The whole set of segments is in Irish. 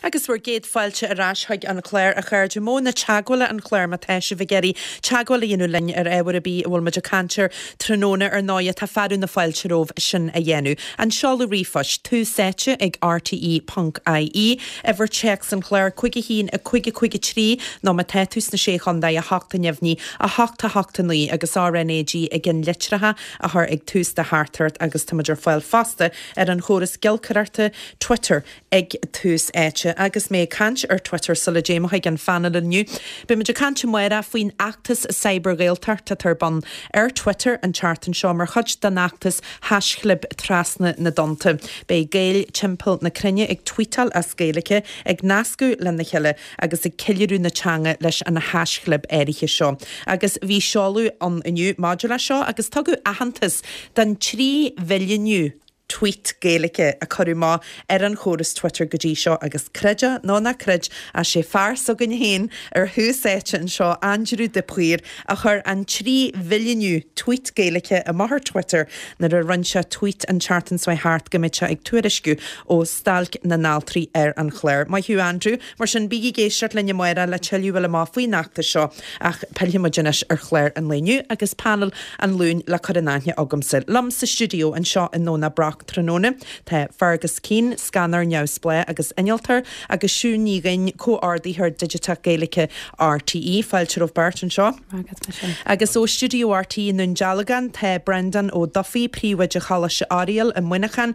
Agus bhur gcéad fáilte ar ais chuig an chlár, a chairde. Modhanna teagmhála an chláir, má tá sibh ag iarraidh teagmháil a dhéanamh linn ar ábhar ar bith a bhfuil muid ag caint air, tráthnóna ar ndóighe, tá fearadh na fáilte romhaibh sin a dhéanamh. An seoladh ríomhphoist, tús-áite ag rte.ie, uimhir téacs an chláir, 51553 nó má tá tú sna Sé Chontae, a hocht a neamhní, a hocht a hocht a naoi agus RNAG i gceannlitreacha a chur ag tús do theachtaireacht agus tá muid ar fáil fosta ar an chóras giolcaireachta, Twitter ag tús áite. Agus mé ag caint ar Twitter, sula dtéim chuig an phaineal inniu, beidh muid ag caint amárach faoin fheachtas Cyber-Ghaeltacht atá ar bun ar Twitter an tseachtain seo mar chuid den fheachtas haischlib trasna na dtonnta. Beidh Gaeil timpeall na cruinne ag tweetáil as Gaeilge, ag nascadh lena chéile agus ag ceiliúradh na teanga leis an haischlib áirithe seo. Agus bhí seoladh ann inniu maidir leis seo agus tugadh aitheantas don trí mhilliúnú. tweet Gaeilge a cuireadh amach ar an chóras Twitter go dtí seo agus creid nó ná creid is é fear s'againne féin ar thús áite anseo, Aindriú de Paor, a chuir an trí mhilliúnú tweet Gaeilge amach ar Twitter nuair a rinne sé tweet an tseachtain seo chuaigh thart go mbeadh sé ag tuairisciú ó stailc na n-altraí ar an chlár. Maith thú Aindriú. Mar sin, bígí ag éisteacht linn amárach le tuilleadh a fháil amach faoin fheachtas seo ach pillfidh muid anois ar chlár an lae inniu agus painéal an Luain le cur in aithne agamsa. Liom sa stiúideo anseo i nDomhnach Broc tráthnóna tá Fergus Keane, Scannóir Neamhspleách agus Innealtóir, agus Siún Ní Dhuinn, Comhordaitheoir Digiteach Gaeilge RTÉ. Fáilte romhaibh beirt anseo. Maith agat, Mise. Agus ó stiúideo RTÉ i nDún Dealgán tá Brendan Ó Dufaigh, Príomhoide Choláiste Oiriall i Muineachán,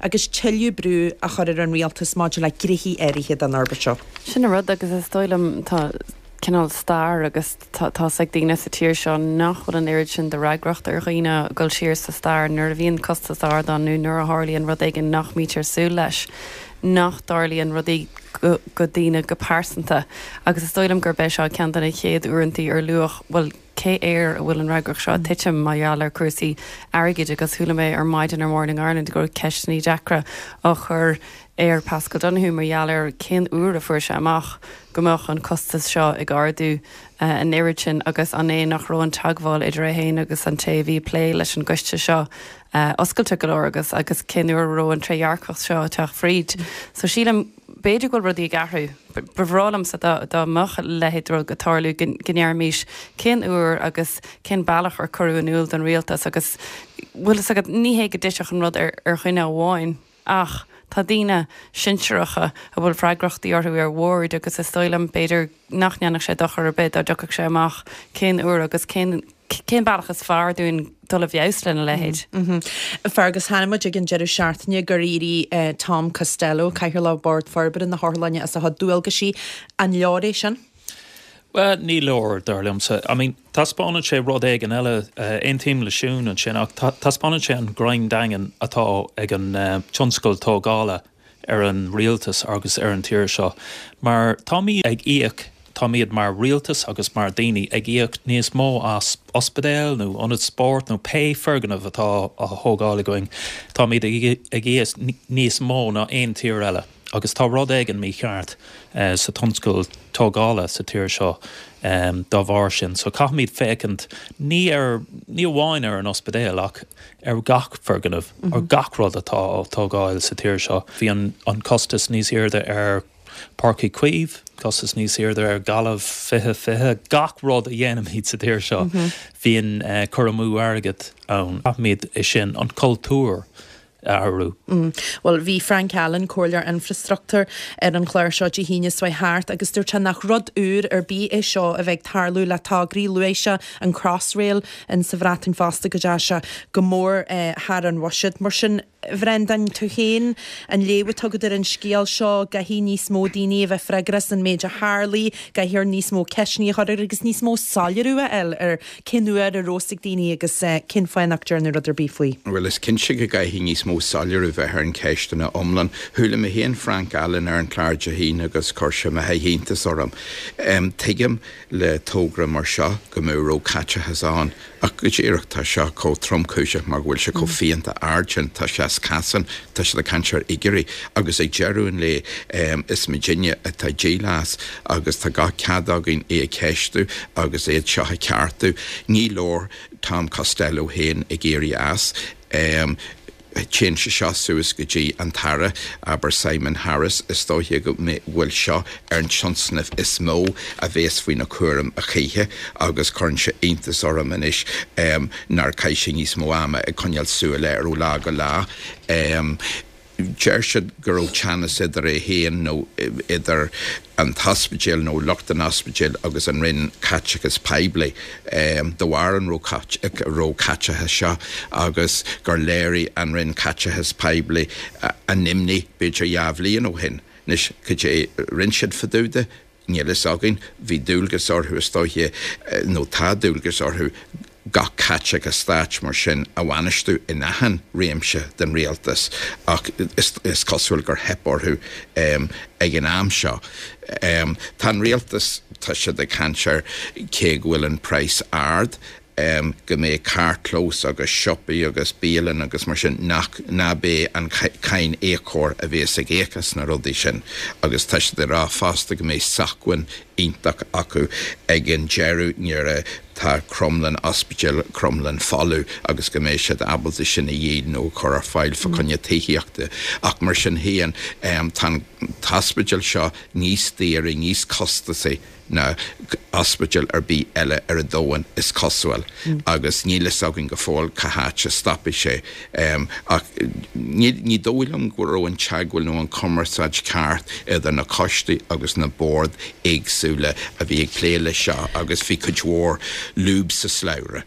agus tuilleadh brú a chur ar an rialtas maidir le gnéithe áirithe den fhorbairt seo. Sin an rud, agus is dóigh liom tá cineál stair agus tá a fhios ag daoine sa tír seo nach bhfuil an oiread sin de fhreagracht ar dhaoine dul siar sa stair nuair a bhíonn costas ard ann nó nuair a tharlaíonn rud éigin nach mbítear súil leis nach dtarlaíonn rudaí go daoine go pearsanta agus is dóigh liom gurb é seo ceann de na chéad uaireantaí ar luadh bhuel cé air a bhfuil an fhreagracht seo ag titim mar gheall ar cúrsaí airgid agus chuala mé ar maidin ar Morning Ireland go raibh ceisteannaí deacra á chur ar Paschal Donohue mar gheall ar cén uair a fuair sé amach go mbeadh an costas seo ag ardú an oiread sin agus an é nach raibh an teagmháil idir é féin agus an té a bhí ag plé leis an gcoiste seo oscailte go leor agus agus cén uair a raibh an trédhearcacht seo ag teacht fríd so sílim b'fhéidir go bhfuil rudaí ag athrú. Ba bhreá liomsa dá mbeadh a leithéid rud ag tarlú, go ndéarfaimis cén uair agus cén bealach ar cuireadh in iúl don rialtas agus bhfuil a fhios agat, ní hé go dtitfeadh an rud ar dhuine amháin ach tá daoine sinsearacha a bhfuil freagrachtaí orthu ar bhoird agus is dóigh liom b'fhéidir, nach ndéanfadh sé dochar ar bith dá dtiocfadh sé amach cén uair agus cén cén bealach is fearr dúinn dul i bhfeabhas lena leithéid. Fergus, chonaic muid ag an deireadh seachtaine gur éirigh Tom Costello, Cathaoirleach Bhord Forbartha na hOtharlainne as a chuid dualgaisí. An leor é sin? Bhuel, ní leor, dar liomsa. I mean, taispeánann sé rud éigin eile, aontaím le Siún ansin, ach taispeánann sé an greim daingean atá ag an tionscal tógála ar an rialtas agus ar an tír seo mar táimid ag íoc, táimid mar rialtas agus mar daoine ag íoc níos mó as ospidéil nó ionaid spóirt nó pé foirgneamh atá á thógáil againn, táimid ag íoc níos mó ná aon tír eile agus tá rud éigin mícheart sa tionscal tógála sa tír seo dá bharr sin. So caithfimid féachaint ní ar, ní amháin ar an ospidéal ach ar gach foirgneamh, ar gach rud atá á tógáil sa tír seo. Bhí an costas níos aoirde ar Páirc Uí Chaoimh, costas níos aoirde ar Ghaillimh 20 20. Gach rud a dhéanaimid sa tír seo bhíonn cur amú airgid ann. Caithfimid é sin, an cultúr, a athrú. Bhuel, bhí Frank Allen, Comhairleoir Infrastructúr, ar an chlár seo Dé hAoine seo chuaigh thart agus dúirt nach rud úr ar bith é seo a bheith ag tarlú le tograí luaigh sé an Crossrail ann sa Bhreatain fosta go ndeachaigh sé go mór thar an bhuiséad. Mar sin, Bhrendan, tú féin, an léamh atá agat ar an scéal seo, an gcaithfidh níos mó daoine a bheith freagrach as an méid a tharlaigh, an gcaithfear níos mó ceisteanna a chur agus níos mó soiléiriú a fháil ar cén uair a raibh a fhios ag daoine agus cén fáth nach ndearnadh rud ar bith faoi. Bhuel, is cinnte go gcaithfidh níos mó soiléiriú bheith ar an cheist ina iomlán. Chuala mé féin Frank Allen ar an chlár Dé hAoine agus chuir sé a mhalairt d'iontas orm. Tuigim. le togra mar seo go mbeadh róchaiteachas ann ach go díreach tá seo chomh tromchúiseach mar go bhfuil sé chomh fiánta ard sin tá sé as cosán tá siad ag caint ar fhigiúirí agus ag deireadh an lae is muidinne atá ag díol as agus tá gach cead againn é a cheistiú agus iad seo a cheartú ní leor Tom Costello féin ag éirí as Téann sé seo suas go dtí an tAire, abair Simon Harris, is dóiche go bhfuil seo ar an tionscnamh is mó a bhéas faoina cúram a choíche agus cuireann sé iontas orm anois nár chaith sé níos mó ama ag coinneáil súil air ó lá go lá. Deir siad go raibh teannas idir é féin nó idir. an t-ospidéal nó lucht an ospidéil agus an Roinn Caiteachais Poiblí de bharr an róchaiteachais seo agus gur léirigh an Roinn Caiteachais Poiblí a n-imní b'fhéidir dhá bhliain ó shin. Anois cad é rinne siad fá dtaobh de? Níl a fhios againn. Bhí dualgas orthu is dóiche nó tá dualgas orthu gach caiteachas stáit mar sin a bhainistiú in achan réimse den rialtas ach is cosúil gur theip orthu ag an am seo. Tá an rialtas, tá siad ag caint ar cé go bhfuil an price ard, go mbeidh carrchlós agus siopaí agus bialann agus mar sin nach, nach é an cáiníocóir a bhéas ag íoc as na rudaí sin agus tá siad ag rá fosta go mbeidh socmhainn iontach acu ag an deireadh nuair a atá Cromghlinn Ospidéal Cromghlinn folamh agus go mbeidh siad ábalta sin a dhíol nó a chur ar fáil fa coinne tithíochta ach mar sin féin tá an t-ospidéal seo níos daoire, níos costasaí ná ospidéal ar bith eile ar an domhan is cosúil agus níl fhios againn go fóill cá háit a stopfaidh sé. Um, ach ní, ní dóigh liom go raibh an teagmháil nó an chumarsáid ceart idir na coistí agus na boird éagsúla a bhí ag plé leis seo agus bhí cuid mhór lúb sa slabhra.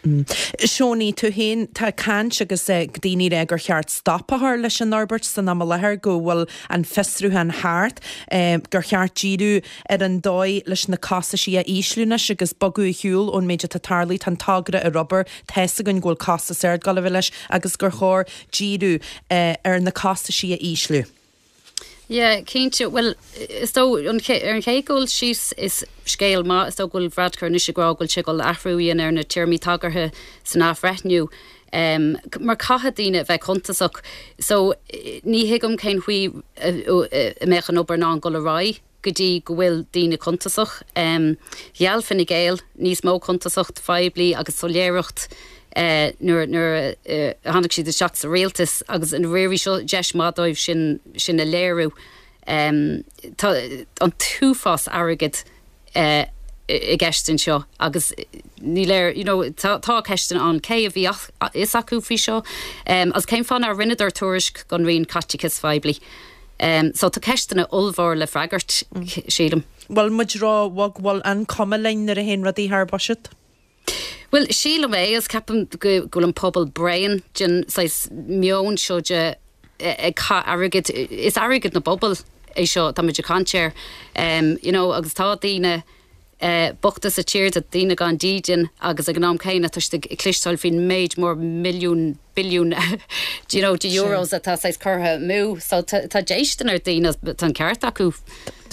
Mm. Seánaí, tú féin, tá caint agus eh, ag daoine rá gur cheart stop a chur leis an fhorbairt san am i láthair, go bhfuil an fiosrúchán thart, eh, gur cheart díriú ar an dóigh leis na costaisí a ísliú anois agus bogadh ar shiúl ón méid atá tarlaithe, tá an togra ag obair, tá fhios againn go bhfuil costas ard ag gabháil leis agus gur chóir díriú ar na costaisí a ísliú. Yeah, cinnte, bhuel, is dóigh, ar an chéad dul síos is scéal maith is dóigh go bhfuil Varadkar anois ag rá go bhfuil sé ag dul athrú a dhéanamh ar na téarmaí tagartha san athbhreithniú. em mar caithfidh daoine a bheith cuntasach so ní thuigim cén chaoi a mbeadh an obair in ann dul ar aghaidh go dtí go bhfuil daoine cuntasach. em gheall Fine Gael níos mó cuntasacht phoiblí agus soiléireacht eh nuair nuair a tháinig siad isteach sa rialtas agus an ndáiríre seo deis mhaith dóibh sin sin a léiriú. em tá an t-uafás airgid i gceist anseo agus ní léir you know tá ceisteanna ann cé a bhí a fhios acu faoi seo agus cén fáth nár rinneadar tuairisc don Roinn Caiteachais Phoiblí. So tá ceisteanna ollmhóra le freagairt sílim. Bhfuil muid ró-bhog? Bhfuil an cuma linn nuair a théann rudaí thar buiséad? Bhuel, sílim é agus ceapaim go bhfuil an pobal bréan den saghas meoin seo de airgead, is airgead an phobail é seo atá muid ag caint air you know agus tá daoine bochta sa tír, daoine gan dídean agus ag an am céanna tá siad ag cloisteáil faoin méid mór milliún billiún you know de euros atá saghas curtha amú so tá déistean ar dhaoine, tá an ceart acu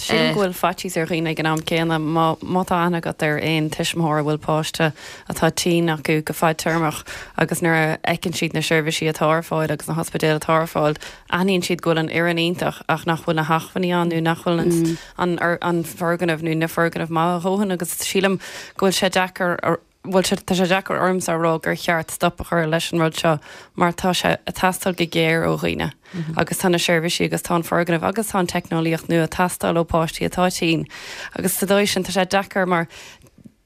Sílim go bhfuil faitíos ar dhaoine ag an am céanna má má tá aithne agat ar aon tuismitheoir a bhfuil páiste atá tinn acu go fadtéarmach agus nuair a fheiceann siad na seirbhísí atá ar fáil agus na hospidéil atá ar fáil aithníonn siad go bhfuil an fhoireann iontach ach nach bhfuil na hachmhainní ann nó nach bhfuil an mm. an, an foirgneamh nó na foirgnimh maith a dhóthain agus sílim go bhfuil sé deacair bhuel, tá sé deacair ormsa a rá gur cheart stop a chur leis an rud seo mar tá sé a' teastáil go géar ó dhaoine agus tá na seirbhísí agus tá an foirgneamh agus tá an teicneolaíocht nua a' teastáil ó pháistí atá tinn agus sa dóigh sin tá sé deacair mar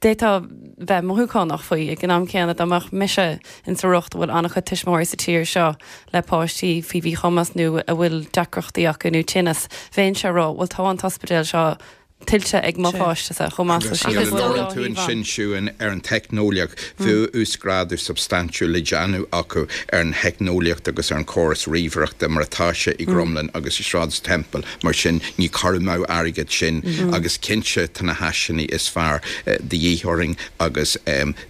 d'fhéadfá bheith mothúchánach faoi ag an am céanna dá mbeadh mise in sa riocht a bhfuil an-chuid tuismitheoirí sa tír seo le páistí faoi mhíchumas nó a bhfuil deacrachtaí acu nó tinneas, bhéinnse a' rá bhuel tá an t-ospidéal seo tuillte ag mo pháiste-sa chomh maith. Luaigh tú ansin Siún ar an teicneolaíocht. Bhí uasghrádú substaintiúil le déanamh acu ar an theicneolaíocht agus ar an chóras ríomhaireachta mar atá sé i gCromghlinn agus i Sráid Temple, mar sin ní cur amú airgid sin agus cinnte tá na háiseanna is fearr de dhíth orainn agus,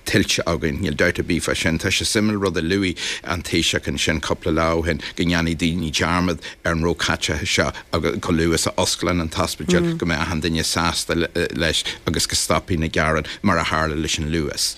tuillte againn. Níl dabht ar bith fá sin. Tá sé suimiúil rud a luaigh an Taoiseach ansin cúpla lá ó shin go ndéanfaidh daoine dearmad ar an róchaiteachas seo chomh luath is a osclaíonn an t-ospidéal go mbeidh achan duine sásta leis agus go stopfaidh na gearáin mar a tharla leis an Luas.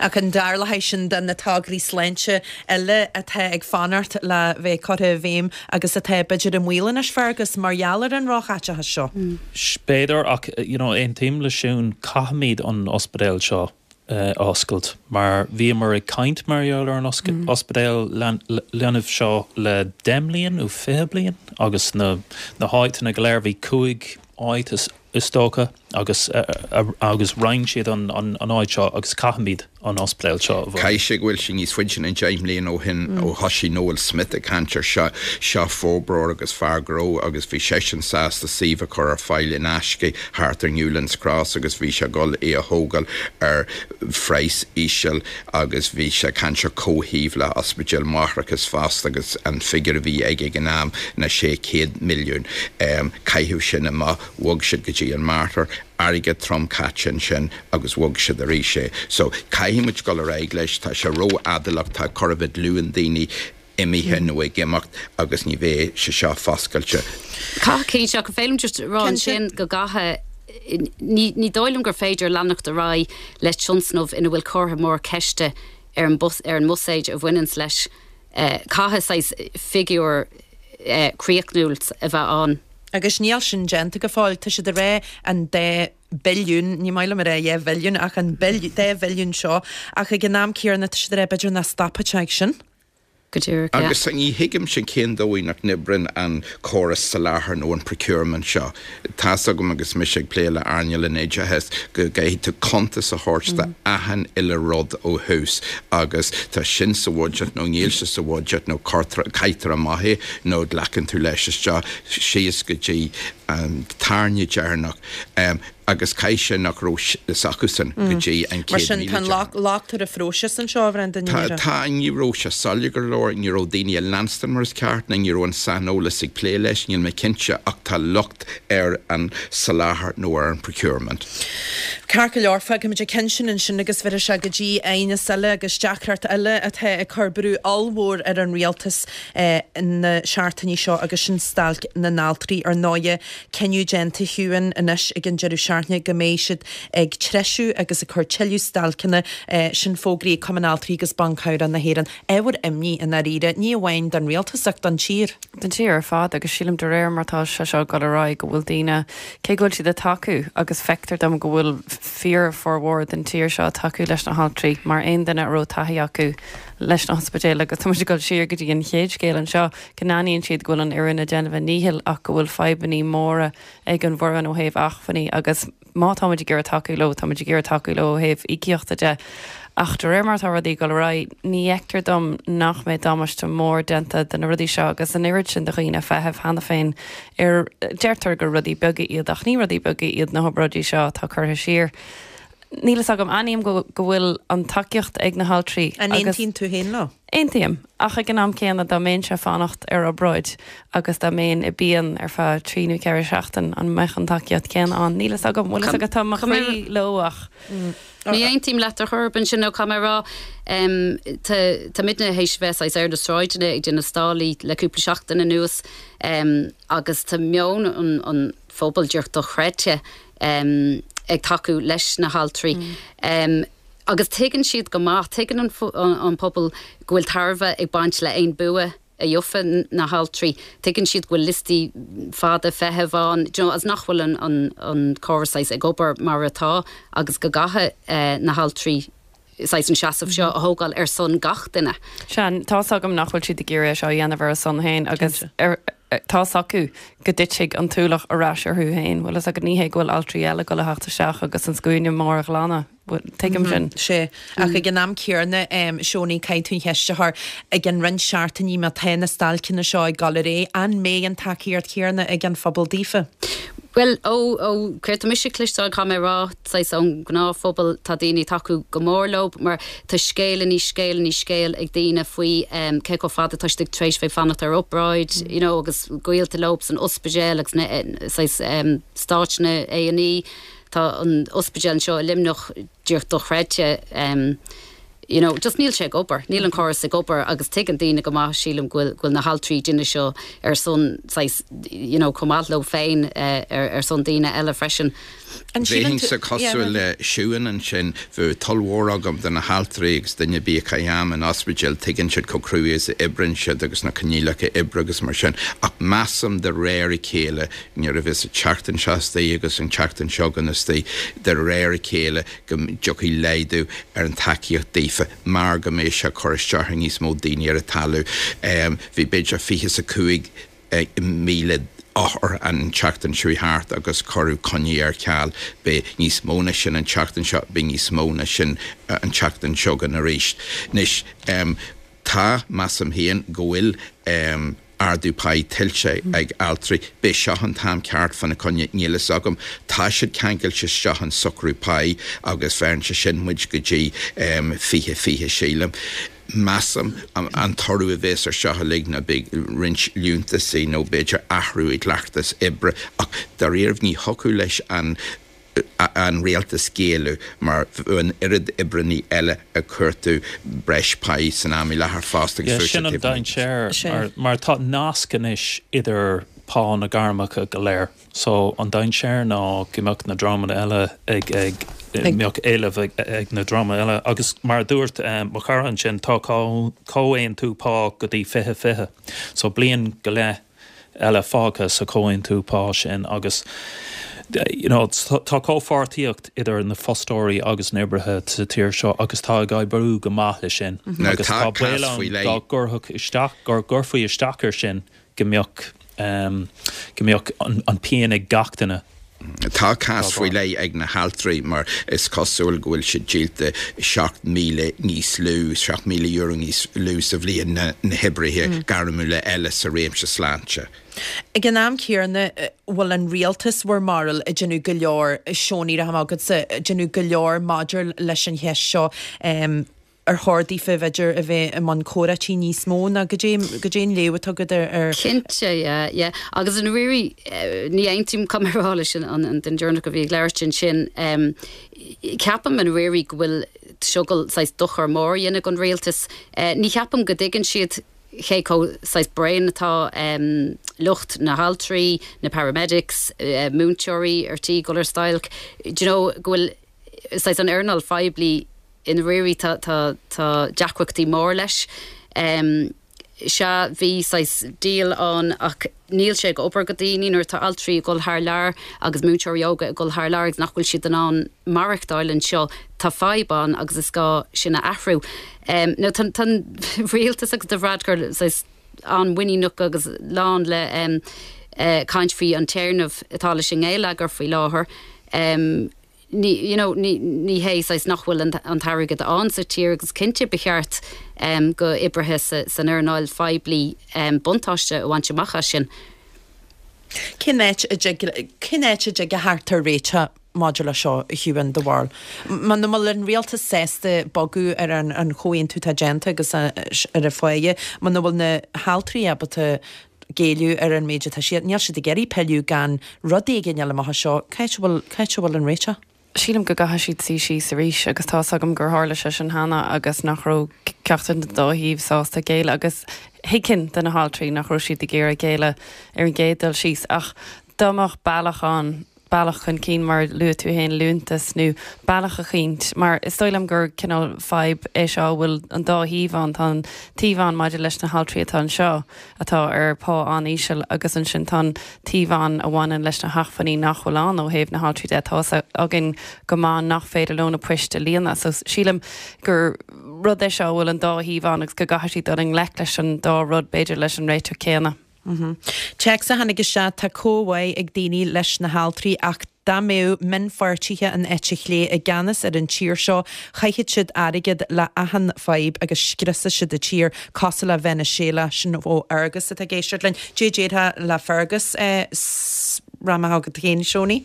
Ach an darna ceann de na tograí sláinte eile atá ag fanacht le bheith curtha i bhfeidhm agus atá b'fhéidir i mbaol anois, Fergus, mar gheall ar an róchaiteachas seo? Is féidir, ach you know aontaím le Siún, caithfimid an ospidéal seo. a oscailt mar bhíomar ag caint mar gheall ar an ospidéal leanbh seo le deich mbliain nó fiche bliain agus na háiteanna go léir, bhí cúig áit is dócha agus roinn siad an áit seo agus caithfimid an ospidéal seo a bhunú. Caithfidh sé go bhfuil sé níos faide ná deich mbliain ó shin ó thosaigh Noel Smith ag caint air seo. Seo forbróir agus fear gnó agus bhí seisean sásta suíomh a chur ar fáil in aisce thart ar Newlands Cross agus bhí sé ag dul í a thógáil ar phraghas íseal agus bhí sé ag caint ar comhshuíomh le hospidéal máithreachais fosta agus an figure a bhí aige ag an am ná 600 milliún. Caitheadh sin amach, bhog siad go dtí an Mater, airgead trom caite ansin agus bhog siad arís é. So caithfidh muid dul ar aghaidh leis, tá sé ró-mhall ach tá cúpla glúin daoine, imithe nó ag imeacht agus ní bheidh sé seo foscailte. Caithfidh sé seo, a Fhéilim just rá ansin go gcaithfidh ní dóigh liom gur féidir leanacht ar aghaidh le tionsnamh ina bhfuil comhartha mór ceiste ar an mbuiséad a bhaineanns leis caithfidh saghas figiúr críochnúil a bheith ann. Agus níl sin déanta go fóill. Tá siad a rá an dá billiún, ní maith liom a rá dhá mhilliún ach an dá bhilliún seo ach ag an am céanna tá siad a rá b'fhéidir nach stopfaidh sé ag sin. go díreach leat. Agus ní thuigimse cén dóigh nach n-oibríonn an córas soláthair nó an procurement seo. Tá's agam agus mise ag plé le earnáil an oideachais go gcaithfidh tú cuntas a thabhairt do achan uile rud ó thús agus tá sin sa bhudget nó níl sé sa bhudget nó caithtear amach é nó glacann tú leis seo síos go dtí an tairne deireanach. agus caithfidh sé nach raibh fhios acusan go dtí an. Mar sin, tá an locht ar an phróiseas anseo, a Bhrendan. Tá, ní raibh sé soiléir go leor, ní raibh daoine á leanstan mar is ceart ná ní raibh an saineolas ag plé leis, níl mé cinnte ach tá locht ar an soláthar nó ar an procurement. Ceart go leor, fágfaimid an ceann sin ansin agus bheir sé go dtí aighneas eile agus deacracht eile atá ag cur brú ollmhór ar an rialtas na seachtainí seo agus sin stailc na n-altraí. Ar ndóigh, cinneadh déanta, a Shiúin, anois ag an deireadh seachtaine go mbeidh siad ag treisiú agus ag cur tuilleadh stailceanna. Sin fógraithe ag Cumann Altraí agus Ban Cabhrach na hÉireann. Ábhar imní i ndáiríre, ní amháin don rialtas ach don tír. Don tír ar fad agus sílim de réir mar tá sé seo ag dul ar aghaidh go bhfuil daoine, cé go bhfuil siad ag tacú agus feictear dom go bhfuil fíorfhormhór den tír seo ag tacú leis na haltraí mar aon duine a raibh taithí acu leis na hospidéil agus tá muid ag dul siar go dtí an chéad scéal anseo, go n-aithníonn siad go bhfuil an fhoireann ag déanamh a ndíchill ach go bhfuil fadhbannaí móra ag an bhfoireann ó thaobh achmhainní agus má táimid ag iarraidh tacú leo, táimid ag iarraidh tacú leo ó thaobh íocaíochta de ach de réir mar atá rudaí ag dul ar aghaidh ní fheictear dom nach mbeidh damáiste mór déanta de na rudaí seo agus an oiread sin de dhaoine ag feitheamh cheana féin ar deirtear gur rudaí beaga iad ach ní rudaí beaga iad na hobráidí seo atá curtha siar. Níl fhios agam, aithním go bhfuil an tacaíocht ag na haltraí agus. An aontaíonn tú féin leo? Aontaím. Ach ag an am céanna dá mbeinnse ag fanacht ar obráid agus dá mbeinn i bpian ar feadh trí nó ceithre seachtain an mbeadh an tacaíocht céanna ann? Níl fhios agam, bhfuil fhios agat tá mo chroí leo ach. Ní aontaím leat ar chor ar bith ansin now caithfidh mé a rá. Táimidne théis bheith saghas ar na sráideanna ag déanamh stallaí le cúpla seachtain anuas agus tá meon an phobail, díreach dochreidte, ag tacú leis na haltraí. Agus tuigeann siad go maith, tuigeann an pobal go bhfuil tairbhe ag baint le aon bua a gheobhadh na haltraí, tuigeann siad go bhfuil liostaí fada feithimh ann, do you know, agus nach bhfuil an córas saghas ag obair mar atá agus go gcaithfidh eh na haltraí saghas an seasamh seo a thógáil ar son gach duine. Sea, tá's agam nach bhfuil siad ag iarraidh é seo a dhéanamh ar a son féin agus tá's acu go dtitfidh an t-ualach ar ais orthu féin, bhfuil fhios agat, ní hé go bhfuil altraí eile go le theacht isteach agus an scuaine mór a ghlanadh, bhfuil, tuigim sin. Sea, ach ag an am céanna, em, Seónaidh, caithfidh tú an cheist a chur, i gceann roinnt seachtainí má tá na stailceanna seo ag dul ar aghaidh, an mbeidh an tacaíocht chéarna ag an phobal daofa? Bhuel, ó, ó, an rud atá mise a chloisteáil, caithfidh mé a rá, saghas ón gnáthphobal tá daoine ag tacú go mór leo mar tá scéal i ndiaidh scéal i ndiaidh scéal ag daoine faoi cé chomh fada tá siad tar éis bheith ag fanacht ar obráid you know agus gaolta leo san ospidéal agus na saghas staid na A&E tá an ospidéal anseo i Luimneach díreach dochreidte um you know, just níl sé ag obair, níl an córas ag obair agus tuigeann daoine go maith, sílim, go bhfuil, go bhfuil na haltraí ag déanamh seo ar son, saghas, you know, chomh maith leo féin, eh, ar, ar son daoine eile freisin. An síleann tú. Bheinnse, yeah, cosúil le Siún ansin, bheadh toil mhór agam do na haltraí agus duine ar bith a chaith am in ospidéal, tuigeann siad chomh cruaidh is a oibreann siad agus na coinníollacha oibre agus mar sin, ach measaim de réir a chéile, nuair a bheas an tseachtain seo astoigh agus an tseachtain seo chugainn astoigh, de réir a chéile, go dtiocfaidh laghdú ar an tacaíocht daofa mar go mbeidh sé ag cur isteach ar níos mó daoine ar an talamh. Bhí b'fhéidir fiche is a cúig míle othar an tseachtain seo a chuaigh thart agus cuireadh coinní ar ceal. Beidh níos mó ná sin an tseachtain seo, beidh níos mó ná sin an tseachtain seo chugainn arís. Anois. Tá, measaim féin, go bhfuil ardú páí tuillte ag altraí. Ab é seo an t-am ceart fána choinne, níl fhios agam. Tá siad ceangailte isteach in socrú páí agus bheireann sé sin muid go dtí fiche, fiche sílim. Measaim an toradh a bhéas ar seo uilig ná beidh roinnt liúntasaí nó b'fhéidir athrú i gcleachtas oibre ach dáiríribh ní thiocfadh leis an an rialtas géilleadh mar bheadh an oiread oibreannaí eile ag cuartú breis páí san am i láthair fosta agus sin an dainséar. Mar tá nasc anois idir pá na gairmeacha go léir so an dainséar ná go mbeadh na dreamanna eile ag, go mbeadh éileamh ag na dreamanna eile agus mar a dúirt mo chara ansin tá comhaontú pá go dtí fiche, fiche so bliain go leith. eile fágtha sa chomhaontú pá sin agus you know tá comhpháirtíocht idir na fostóirí agus na oibrithe sa tír seo agus tá ag oibriú go maith leis sin agus tá baol ann dá gcuirfeadh isteach, dá gcuirfí isteach air sin go mbeadh, go mbeadh an pian ag gach duine. Tá cás faoi leith ag na haltraí mar is cosúil go bhfuil siad díolta 7,000 níos lú, €7,000 níos lú sa bhliain ná na hoibrithe gairmiúla eile sa réimse sláinte. Ag an am céanna, bhfuil an rialtas bhur mbarúil ag déanamh go leor, Seoin, ní raibh am agatsa ag déanamh go leor maidir leis an cheist seo. ar chóir daofa b'fhéidir a bheith i mbun comhráití níos mó ná cad é, cad é an léamh atá agat air. Cinnte, yeah, yeah. Agus i ndáiríre, ní aontaím caithfidh mé a rá leis an an duine deireanach a bhí ag labhairt ansin. Ceapaim i ndáiríre go bhfuil seo ag dul saghas dochar mór a dhéanamh ag an Rialtas. Ní cheapaim go dtuigeann siad cé chomh saghas bréan atá lucht na haltraí, na paramedics, múinteoirí ar tí dul ar stailc, do you know, go bhfuil. saghas an earnáil phoiblí i ndáiríre tá tá tá deacrachtaí mór leis em sea bhí saghas deal ann ach níl sé ag obair go daoine nuair atá altraí ag dul thar lear agus múinteoirí óga ag dul thar lear agus nach bhfuil siad in ann maireachtáil anseo tá fadhb ann agus is gá sin a athrú em nó tá an tá an rialtas agus Leo Varadkar saghas an-mhuiníneach agus lán le em eh, caint faoi an téarnamh atá leis an ngeilleagar faoi láthair em you know ní hé saghas nach bhfuil an t-airgead ann sa tír agus cinnte ba cheart go oibrithe san earnáil phoiblí buntáiste a bhaint amach as sin. Cén áit a dtig, cén áit a dtig a theacht ar réiteach maidir leis seo, a Shiubhán de Bhál? Muna bhfuil an Rialtas sásta bogadh ar an an chomhaontú atá déanta agus ar an pháighe, muna bhfuil na haltraí ábalta géilleadh ar an méid atá siad. Níl siad ag iarraidh pilleadh gan rud éigin a fháil amach as seo. Cá háit a bhfuil, cá háit a bhfuil an réiteach? Sílim go gcaithfidh siad suí síos arís agus tá fhios agam gur tharla sé sin cheana agus nach raibh ceachtar den dá thaobh sásta géilleadh agus thuigfinn do na haltraí nach raibh siad ag iarraidh géilleadh ar an gcéad dul síos ach dá mbeadh bealach ann bealach chun cinn mar a luaigh tú féin liúntas nó bealach eicínt mar is dóigh liom gur cineál fadhb é seo a bhfuil an dá thaobh ann tá an taobh ann maidir leis na haltraí atá anseo atá ar pá an-íseal agus ansin tá an taobh ann a bhaineann leis na hachmhainní nach bhfuil ann ó thaobh na haltraí de tá fhios againn go maith nach féidir leo na poist a líonadh so sílim gur rud é seo a bhfuil an dá thaobh ann agus go gcaithfidh siad dul i ngleic leis an dá rud b'fhéidir leis an réiteach céanna. Téacs a tháinig isteach, Tá comhbhá ag daoine leis na haltraí ach dá mbeadh mionpháirtithe an eite chlé i gceannas ar an tír seo chaithfeadh siad airgead le achan fadhb agus scriosfadh siad an tír, cosúil le Veiniséala. Sin ó Fheargas atá ag éisteacht linn. Cad é a déarfá le Feargas? Go raibh maith agat féin, Seoinín.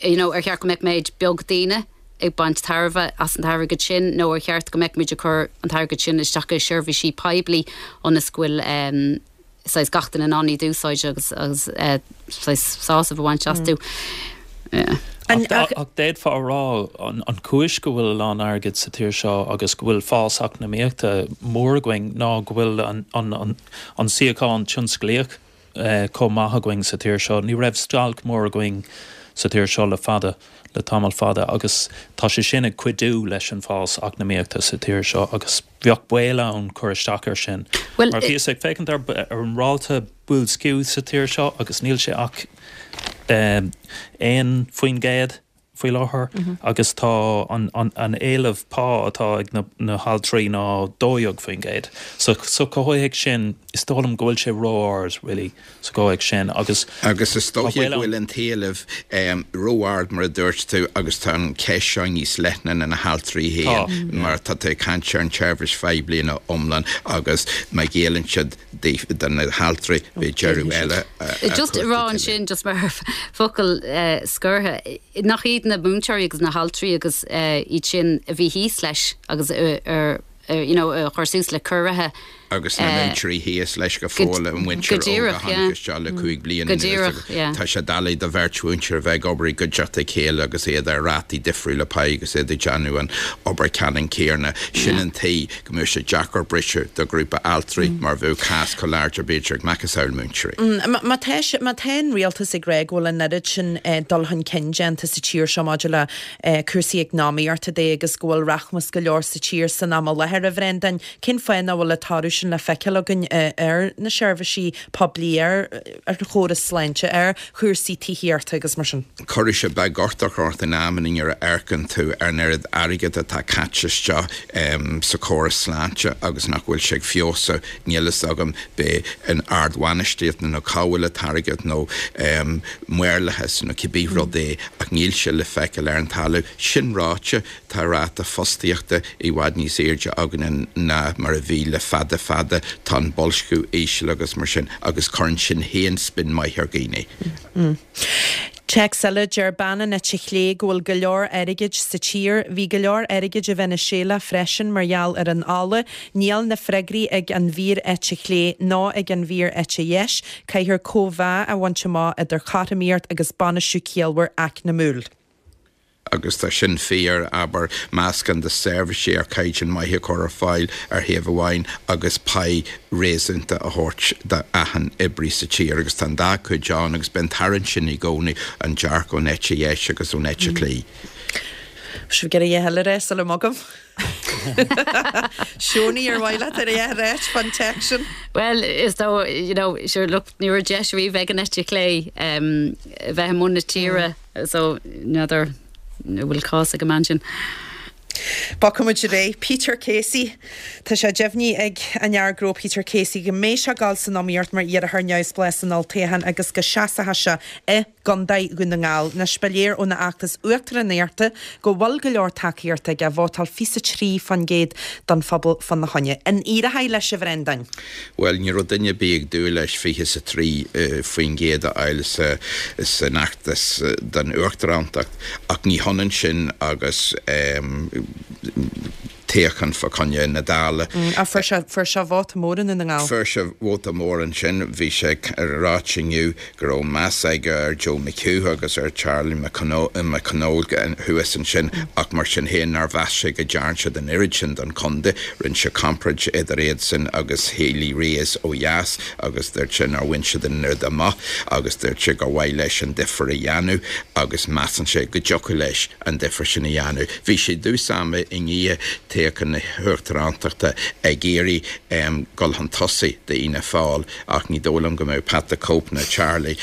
you know, ar cheart go mbeadh méid beag daoine ag baint tairbhe as an t-airgead sin nó ar cheart go mbeadh muid ag cur an t-airgead sin isteach i seirbhísí poiblí ionas go bhfuil saghas gach duine in ann iad a úsáid agus agus saghas sásamh a bhaint astu. Yeah. Ach, ach d'fhéadfá a rá an, an chúis go bhfuil a lán airgid sa tír seo agus go bhfuil fás eacnamaíochta mór againn ná go bhfuil an, an, an, an síocháin tionsclaíoch chomh maith againn sa tír seo. Ní raibh stailc mór againn sa tír seo le fada, le tamall fada agus tá sé sin ag cuidiú leis an bhfás eacnamaíochta sa tír seo agus bheadh baol ann cur isteach ar sin. Mar bhíos ag féachaint ar an ráta boilsciú sa tír seo agus níl sé ach 1%. faoi láthair agus tá an éileamh pá atá ag na haltraí ná 12%. So sa chomhthéacs sin is dóigh liom go bhfuil sé ró-ard really sa gcomhthéacs sin agus Agus is dóiche go bhfuil an t-éileamh ró-ard mar a dúirt tú agus tá an cheist seo níos leithne ná na haltraí féin mar tá tú ag caint ar an tseirbhís phoiblí ina iomlán agus má ghéilleann siad do na haltraí bhí deireadh eile just a rá ansin. Just mar focal scortha, nach iad na múinteoirí agus na haltraí agus iad sin a bhí thíos leis agus you know a chur suas le ciorruithe? Agus na múinteoirí thíos leis go fóill, an mhuintir óg a tháinig isteach le cúig bliana anuas. Go díreach, yeah. Tá sé doiligh do bheirt mhúinteoir a bheith ag obair i gcuideachta a chéile agus iad ar rátaí difriúla páigh agus iad ag déanamh an obair ceannann céanna. Sin an tuige. go mbeadh sé deacair briseadh do ghrúpa altraí mar bheadh cás chomh láidir b'fhéidir ag macasamhail múinteoirí. Má tá an rialtas ag rá go bhfuil an oiread sin dul chun cinn déanta sa tír seo maidir le cúrsaí eacnamaíochta de agus go bhfuil rachmas go leor sa tír san am i láthair, a Bhreandáin, cén fáth nach bhfuil an toradh sin le feiceáil againn ar na seirbhísí poiblí, ar an chóras sláinte, ar chúrsaí tithíochta agus mar sin? Chuirfeadh sé beaguchtach ort in amannaí nuair a amharcann tú ar an oiread airgid atá caite isteach sa chóras sláinte agus nach bhfuil sé ag feabhsú. Níl fhios agam, ab é an ardbhainistíocht nó cá bhfuil an t-airgead nó maorlathas nó cibé rud é ach níl sé le feiceáil ar an talamh. Sin ráite, tá ráta fostaíochta i bhfad níos airde againne ná mar a bhí le fada fada. Tá an boilsciú íseal agus mar sin agus cuireann sin féin spion maith ar dhaoine. Téacs eile, Deir bean an eite chlé go bhfuil go leor airgid sa tír. Bhí go leor airgid i Veiniséala freisin mar gheall ar an ola. Níl na freagraí ag an bhfíor-eite chlé ná ag an bhfíor-eite dheis. Caithfear cóimheá a bhaint amach idir chothromaíocht agus bainistiú ciallmhar eacnamúil. agus tá sin fíor, abair, meascán de seirbhísí ar chaighdeán maith a chur ar fáil ar thaobh amháin agus pá réasúnta a thabhairt do achan oibrí sa tír agus tá an dá chuid ann agus beidh an tarraingt sin i gcónaí, an dearcadh ón eite dheis agus ón eite chlé. Sibh ag iarraidh a dhath eile a rá sula mbogaim. Siónaí, ar mhaith leat a dhath a ráit fán téacs sin? Bhuel, is dóigh, you know, sure, look, ní raibh deis riamh ag an eite chlé um, bheith i mbun na tíre, mm. so n'fheadar an bhfuil cás ag an mbean sin. Bogfaimid ar aghaidh Peter Casey. Tá sé deimhnithe ag an fhear gnó Peter Casey go mbeidh sé ag gabháil san iomaíocht mar iarrthóir neamhspleá san Olltoghchán agus go seasfaidh sé i gCondae Dhún na nGall. Anois ba léir óna fheachtas uachtaránachta go bhfuil go leor tacaíochta aige, vótáil 23% don phobal fána choinne. An éireoidh leis a Bhrendáin? Bhuel, ní raibh duine ar bith ag dúil leis 23% a fháil san fheachtas don uachtaránacht, ach ní hionann sin agus. Toghchán fo coinne na Dála. Á, fuair sé, fuair sé vóta mór i nDún na nGall. Fuair sé vóta mór ansin, bhí sé ag ráit inniu go raibh meas aige ar Joe McHugh agus ar Charlie McConalogue thuas ansin ach mar sin féin nár mheas sé go dtearn siad an oiread sin don chontae, rinne sé comparáid idir iadsan agus Healy-Raes ó dheas agus dúirt sé nár bhain siad an oiread amach agus dúirt sé gur mhaith leis an difear a dhéanamh agus measann sé go dtiocfadh leis. an difear sin a dhéanamh. Bhí sé dtús ama i ndiaidh toghchán na hUachtaránachta ag iarraidh dul chun tosaigh d'Fhianna Fáil ach ní dóigh liom go mbeadh Pat the Cope nó Charlie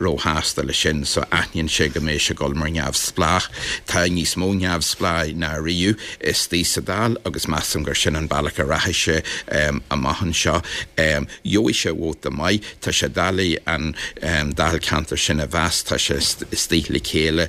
róshásta leis sin so aithníonn sé go mbeidh sé dul mar neamhspleách. Tá níos mó neamhspleáigh ná ariamh istigh sa Dáil agus measaim gur sin an bealach a rachaidh sé amach anseo. Gheobhaidh sé vóta maith. Tá sé doiligh an Dáilcheantar sin a mheas, tá sé istigh le chéile.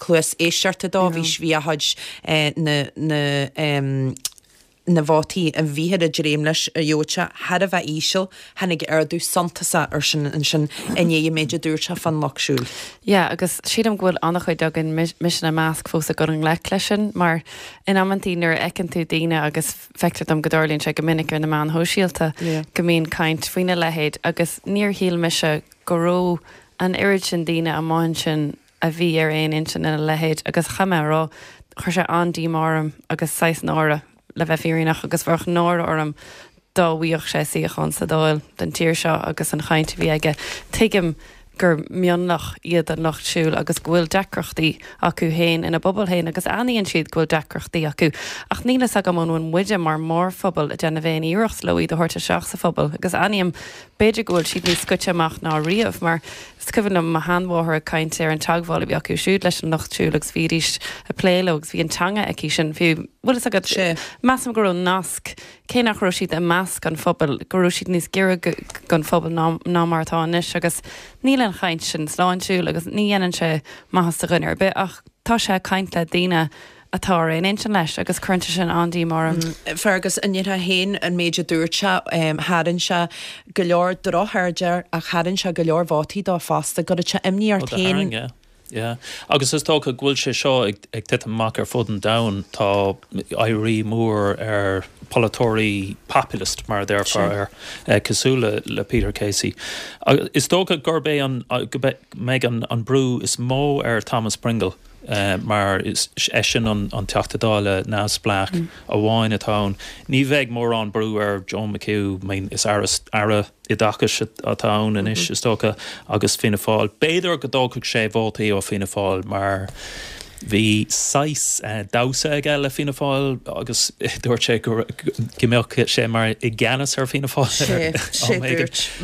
cluas éisteachta dó, bhí fhios againn na vótaí a bhíthear ag dréim leis a ghnóthú thar a bheith íseal, tháinig ardú suntasach ar sin ansin i ndiaidh an méid a dúirt sé fán lucht siúil. Yeah, agus sílim go bhfuil an-chuid againn, mise ina measc, fós ag dul i ngleic leis sin, mar in amanntaí nuair a fheiceann tú daoine agus feictear dom go dtarlaíonn sé go minic ar na meáin shóisialta go mbíonn caint faoina leithéid agus níor shíl mise go raibh an oiread sin daoine amuigh ansin a bhí ar aon intinn lena leithéid agus caithfidh mé a rá, chuir sé an-díomá orm agus saghas náire, le bheith fírinneach, agus bheadh náire orm dá bhfaigheadh sé suíochán sa Dáil don tír seo agus an chaint a bhí aige. Tuigim gur mionlach iad an lucht siúil agus go bhfuil deacrachtaí acu féin ina bpobal féin agus aithníonn siad go bhfuil deacrachtaí acu ach níl fhios agam an bhfuil muide mar mhórphobal ag déanamh aon iarracht leo iad a thabhairt isteach sa phobal agus aithním b'fhéidir go bhfuil siad níos scoite amach ná riamh mar Is cuimhin liom mo sheanmháthair ag caint ar an teagmháil a bhí acu siúd leis an lucht siúil agus bhídís ag plé leo agus bhí an teanga aici sin fiú. Bhfuil fhios agat, measaim go raibh nasc, cé nach raibh siad i measc an phobail, go raibh siad níos gaire gon phobal ná mar atá anois agus níl an chaint sin sláintiúil agus ní dhéanann sé maitheas do dhuine ar bith ach tá sé ag caint le daoine atá ar aon intinn leis agus cuireann sé sin an-imní orm. Fergus, an ndéarfá féin an méid a dúirt sé? Tharraing sé go leor droch-aird air ach tharraing sé go leor vótaí dó fosta. An gcuireann sé imní ort fhéin. Ó, do tharraing, yeah. Yeah. Agus is dócha go bhfuil sé seo ag titim amach ar fud an domhain. Tá éirí mór ar pholaiteoirí populist, mar a déarfá, ar cosúil le Peter Casey. Is dócha gurb é an, go mbeidh an brú is mó ar Thomas Pringle. mar is eisean an Teachta Dála neamhspleách amháin atá ann. Ní bheidh mórán brú ar Joe McHugh, is Aire Oideachais atá ann anois, is dócha, agus Fianna Fáil. B'fhéidir go dtógfadh sé vótaí ó Fianna Fáil mar bhí saghas damhsa aige le Fianna Fáil agus dúirt sé go mbeadh sé mar i gceannas ar Fianna Fáil am éigin.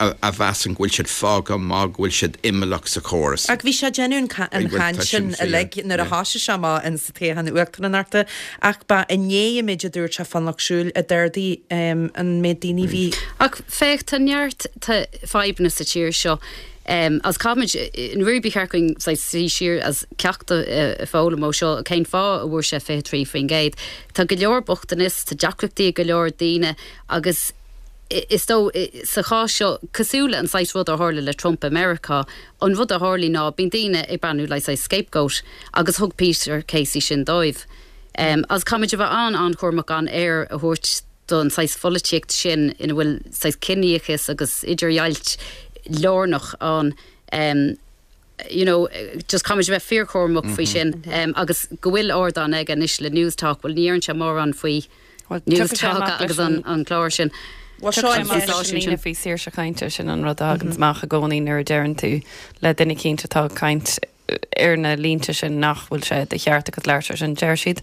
a mheasann go bhfuil siad fágtha má go bhfuil siad imeallach sa chóras. Ach bhí sé ag déanamh an chaint sin uilig nuair a thosaigh sé amach insa toghchán Uachtaránachta ach ba i ndiaidh an méid a dúirt sé fán Lucht Siúil a d'ardaigh an méid daoine a bhí Ach féach, tá neart, tá fadhbanna sa tír seo agus caithfimid ní bheadh cheart dúinn suí siar agus ceacht a foghlaim ó seo, cén fáth a bhfuair sé 23%? Tá go leor bochtanais, tá deacrachtaí ag go leor daoine agus. Is dócha, sa chás seo, cosúil le an saghas rud a tharla le Trump i Meiriceá, an rud a tharlaíonn ná bíonn daoine ag breathnú like saghas scapegoat agus thug Peter Casey sin dóibh. Agus caithfimid a bheith an, an-chúramach gan aer a thabhairt don saghas pholaitíocht sin ina bhfuil saghas ciníochas agus idirdhealú lárnach ann. you know, just caithfimid a bheith fíorchúramach faoi sin agus go bhfuil ardán aige anois le Newstalk, bhuel ní deireann sé mórán faoi Newstalk agus an clár sin. Bhuel seo é mar sin líne faoi saoirse cainte, sin an rud a thaganns amach i gcónaí nuair a deireann tú le duine cinnte atá ag caint ar na línte sin nach bhfuil sé de cheart agat labhairt freisin, deir siad.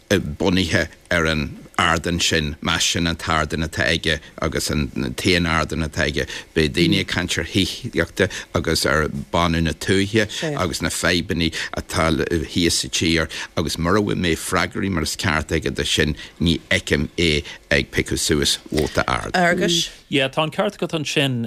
bunaithe ar an ardán sin, más sin an t-ardán atá aige agus an t-aon ardán atá aige, beidh daoine ag caint ar thithíocht agus ar bánú na tuaithe agus na fadhbanna atá thíos faoin tír agus mura bhfuil freagraí mar is ceart aige do sin, ní fheicim é ag piocadh suas vóta ard. Fheargais. Yeah, tá an ceart agat ansin,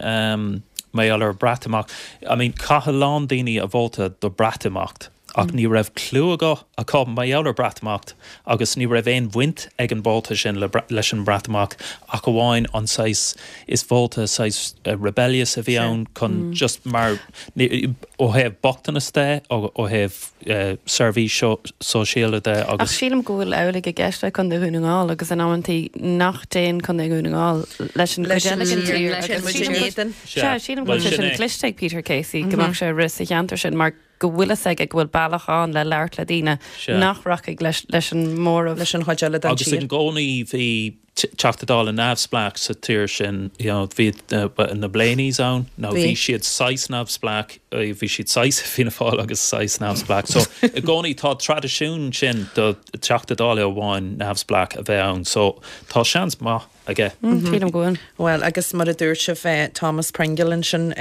mar gheall ar an Bhreatimeacht. I mean, chaith a lán daoine a vóta do Bhreatimeacht. Ach ní raibh cliú acu mar gheall ar Breatimeacht agus ní raibh aon bhaint ag an vóta sin le, leis an mBreatimeacht ach amháin an saghas is vóta saghas rebellious a bhí ann chun just mar ní, ó thaobh bochtanas de, ó ó thaobh eh, seirbhísí sóisialta de agus. Ach sílim go bhfuil amhlaidh i gceist le Condae Dhún na nGall agus in amanntaí nach dtéann Condae Dhún na nGall leis an Leis gcuid an eile den tír, tír leis an agus muid in sílim go- éadan. Sea, Sea, sílim go bhfuil sé sin sin é. cliste ag Peter Casey go mbeadh sé a rith sa cheantar sin mar go bhfuil fhios aige go bhfuil bealach ann le labhairt le daoine nach rachaidh leis an móramh. Leis an chuid eile den tír. Agus i gcónaí bhí Teachta Dála neamhspleách sa tír sin, you know, bhí na Blaneys ann, now bhí siad saghas neamhspleách, bhí siad saghas Fianna Fáil agus saghas neamhspleách, so i gcónaí tá traidisiún sin do Teachta Dála amháin neamhspleách a bheith ann, so tá seans maith. aige. Sílim go bhfuil. Bhuel, agus mar a dúirt sibh, Thomas Pringle ansin,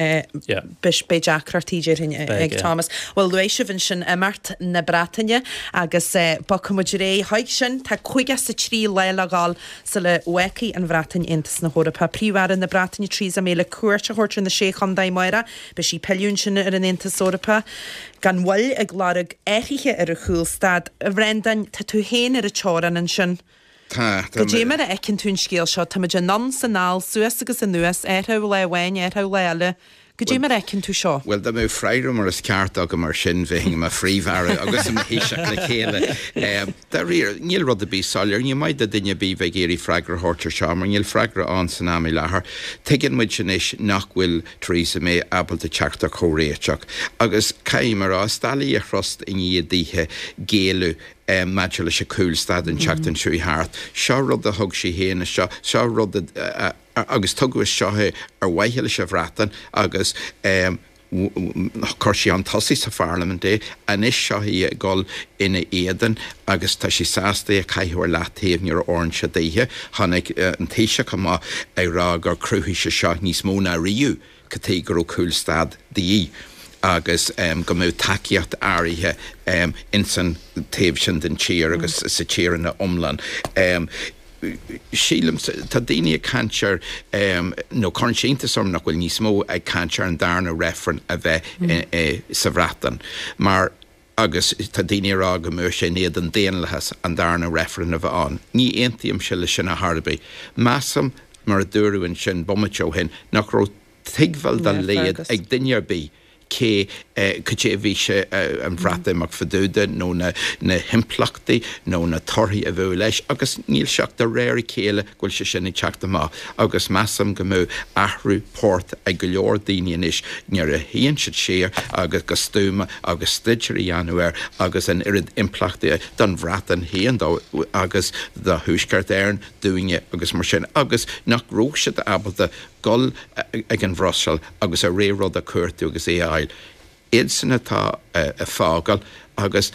beidh deacrachtaí déarfainn ag Thomas. Bhuel, luaigh sibh ansin imeacht na Breataine agus bogfaidh muid ar aghaidh chuig sin. Tá 53 lá le dhul sula bhfágfaidh an Bhreatain Aontas na hEorpa. Tá Príomh-Aire na Breataine Theresa May le cuairt a thabhairt ar na Sé Chontae amárach. Beidh sí ag pilleadh ansin ar an Aontas Eorpach gan mhoill ag lorg athruithe ar an chúlstad. A Bhreandáin, tá tú féin ar an teorainn ansin. Tá, tá. Caidé mar a fheiceann tú an scéal seo, táimid anonn 's anall, suas agus anuas, athrú lá amháin, athrú lá eile. Caidé mar a fheiceann tú seo. Bhuel, dá mbeadh freagra mar is ceart agam ar sin, bheinn i mo Phríomh-Aire agus i mo Thaoiseach le chéile. Dáiríre, níl rud ar bith soiléir. Ní maith do duine ar bith bheith ag iarraidh freagra a thabhairt ar seo, mar níl freagra ann san am i láthair. Tuigeann muid anois nach bhfuil Theresa May ábalta teacht ar chomhréiteach, agus caithfidh mé a rá, is doiligh í a thrust i ndiaidh daoithe géilleadh. maidir leis an cúlstad an tseachtain seo a chuaigh thart. Seo rud a thug sí féin isteach, seo rud a, agus tugadh isteach é ar mhaithe leis an Bhreatain agus chuir sí chun tosaigh sa Pharlaimint é. Anois seo í ag dul ina éadan agus tá sí sásta é a chaitheamh ar leathtaobh nuair a fhóireann sé daoithe. Tháinig an Taoiseach amach ag rá gur cruthaigh sé seo níos mó ná riamh. cad chuige go raibh cúlstad de dhíth agus go mbeadh tacaíocht áirithe ins an taobh sin den tír agus sa tír ina iomlán. Sílim, tá daoine ag caint ar, nó cuireann sé iontas orm nach bhfuil níos mó ag caint ar an darna reifreann a bheith sa Bhreatain mar, agus tá daoine ag rá go mbeadh sé in éadan daonlathas, an darna reifreann a bheith ann. Ní aontaímse le sin ar chor ar bith. Measaim, mar a dúradh ansin bomaite ó shin, nach raibh tuigbheáil dá laghad ag duine ar bith cé caidé a bhí sé an Bhreatimeacht fadúda nó na himpleachtaí nó na torthaí a bheadh leis agus níl sé ach de réir a chéile bhfuil sé sin ag teacht amach agus measaim go mbeadh athrú poirt ag go leor daoine anois nuair a shuíonn siad siar agus go stuama agus staidéar a dhéanamh air agus an oiread impleachtaí don Bhreatain féin dó agus do Thuaisceart Éireann dúinne agus mar sin agus nach raibh siad ábalta dul ag an Bhruiséil agus a rogha rud a chuartú agus é a fháil. Iadsan atá ag fágáil agus